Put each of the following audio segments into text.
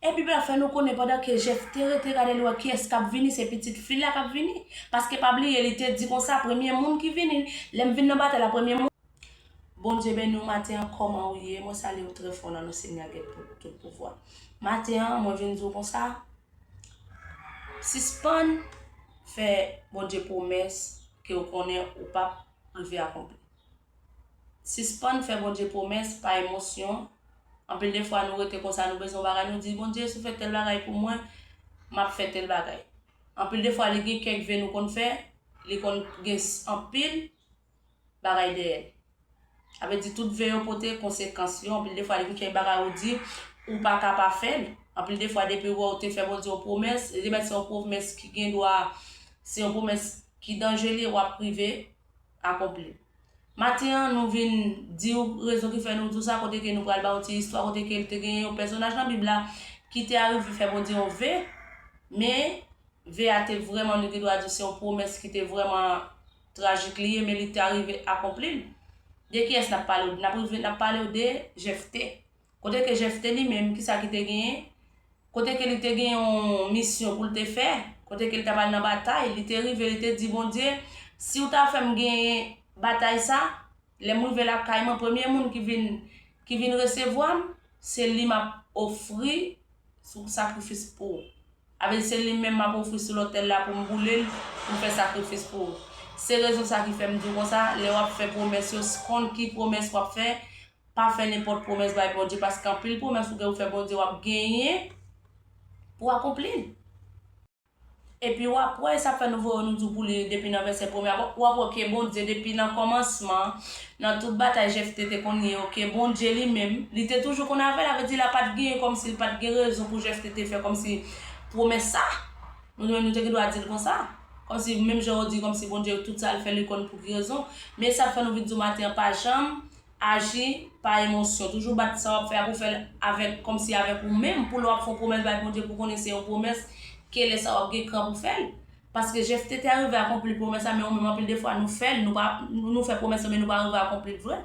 Epi blan fè nou konnen pandan ke Jeff te rete gade li wè kiyès kap vini se pitit fil la kap vini paske pa bliye li te di konsa premye moun ki vini lèm vin nan batay la premye moun Bondye beni w maten an kòman ou ye mwen salye w trè fò nan non Senyè a gen tout pouvwa maten an mwen vin di w konsa sispann fè Bondye pwomès ke w konnen ou pap rive akonpli. Sispann fè Bondye pwomès pa emosyon, anpil de fwa nou rete konsa nou bezwen yon bagay nou di Bondye si w fè tèl bagay pou mwen map fè tèl bagay. Anpil de fwa li gen kèk ve nou konn fè li konn gen anpil bagay dèyè l. Sa vle di tout ve yo pote konsekans yo, anpil de fwa li gen kèk bagay ou di ou pa ka pa fè l, anpil de fwa depi wè ou te fè Bondye yon pwomès, li te mèt se yon pwomès ki gen dwa se yon pwomès ki danje li wap rive akonpli. Maten an nou vin di w rezon ki fè nou di w sa, kote ke nou pral ba w ti istwa, kote ke te gen yon pèsonaj nan Bib la ki te arive fè Bondye yon ve, men ve a te vrèman nou gendwa di se yon pwomès ki te vrèman trajik li ye, men li te arive akonpli l. De kiyès n ap pale w? N ap pale w de Jefte. Kote ke Jefte li menm, ki sa ki te genyen? Kote ke li te gen yon misyon pou l te fè, kote ke li t ap al nan batay, li te rive, li te di Bondye, Si ou ta fè m genyen batay sa, lè m rive lakay mwen, premye moun ki vin, ki vin resevwa m, se li m ap ofri sou sakrifis pou ou. A vle di se li menm m ap ofri sou lotèl la pou m boule l, pou m fè sakrifis pou ou. Se rezon sa ki fè m di w konsa, lè w ap fè pwomès yo, konn ki pwomès w ap fè, Pa fè nenpòt pwomès bay Bondye paske anpil pwomès ou gen ou fè Bondye w ap genyen pou w akonpli l. Epi w ap wè, e sa k fè nou voye w nou di w pou w li depi nan vèsè premye a, w ap wè ke Bondye depi nan kòmansman an, nan tout batay Jèfte te konn ye yo, ke Bondye li menm, li te toujou konn avè l, a vle di la pa t genyen kòmsi l pa t gen rezon pou Jèfte te fè kòmsi pwomès sa, nou menm nou te gen dwa di l konsa, kòmsi menm jan yo di kòmsi Bondye tout sa l fè li konn pou ki rezon, men e sa k fè nou vin di w maten an pa janm. Aji pa emosyon. Toujou bat sa wap fè a pou fèl avèk kòmsi avèk ou menm pou lè wap fè yon pwomès bay Bondye pou konnen se yon pwomès ke lè sa wap gen kran pou fèl. Paske Jefte te arive akonpli pwomès la men ou menm anpil de fwa nou fèl nou pa nou fè pwomès lan men nou pa arive akonplil vre.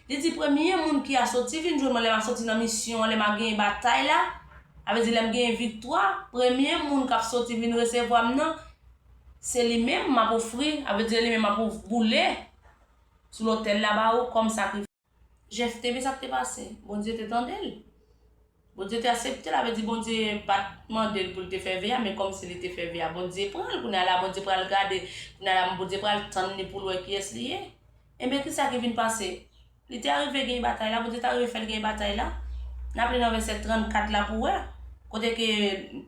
Li di premye moun ki a soti vin jwenn mwen lè ma soti nan misyon an lè ma genyen batay la, sa vle di lèm genyen viktwa, premye moun kap soti vin resevwam nan se li menm map ofri, sa vle di li menm map boule sou lotèl la ba ou kòm sakrifis. Jefte, men sa k te pase. Bondye te tande l. Bondye te asepte l. Sa vle di Bondye pa t mande l pou l te fè ve a, men kòmsi li te fè ve a, Bondye pran l. Kounye a la, Bondye pral gade. Kounye a la, Bondye pral tann li pou l wè kiyès li ye. Enben, ki sa ki vin pase? Li te arive gen batay la, Bondye te arive fè l gen batay la. N ap li nan vèsè 34 la pou wè, kote ke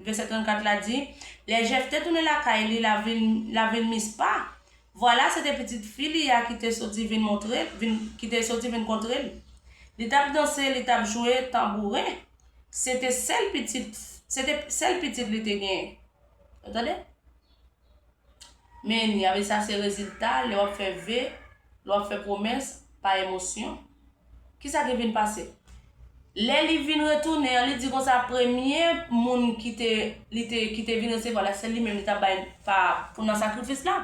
vèsè 34 la di, Lè Jefte tounen lakay li, la vil Mispa, Vwala se te pitit fi li a ki te soti vin montre l, vin, ki te soti vin kontre l. Li t ap danse, li t ap jwe tanbouren. Se te sèl pitit, se te sèl pitit li te genyen. Ou tande? Meni, a vle di sa se rezilta lè w ap fè ve, lè w ap fè pwomès pa emosyon. Ki sa ki vin pase? Lè li vin retounen an, li di konsa premye moun ki te, li te, ki te vin resevwa l la, se li menm li t ap bay pa pou nan sakrifis la.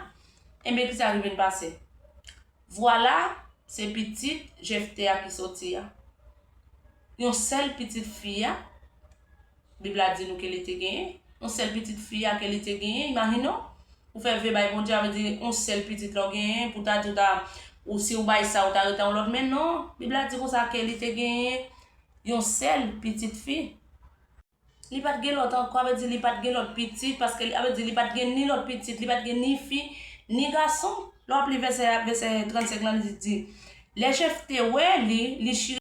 Enben, ki sa ki vin pase? Vwala, se pitit Jefte a ki soti a. Yon sèl pitit fi a. Bib la di nou ke li te genyen. Yon sèl pitit fi a ke li te genyen, imajine w, ou fè ve bay Bondye, avle di yon sèl pitit la ou genyen, pou ta di ou ta, ou si ou bay sa ou ta rete yon lòt men non, Bib la di konsa ke li te genyen yon sèl pitit fi. Li pa t gen lòt ankò, avle di li pa t gen lòt pitit, paske li, avle di li pa t gen ni lòt pitit, li pa t gen ni fi, ni gason. Lè w ap li vèsè a, vèsè 35 lan li di, Lè Jèfte wè li, li chire.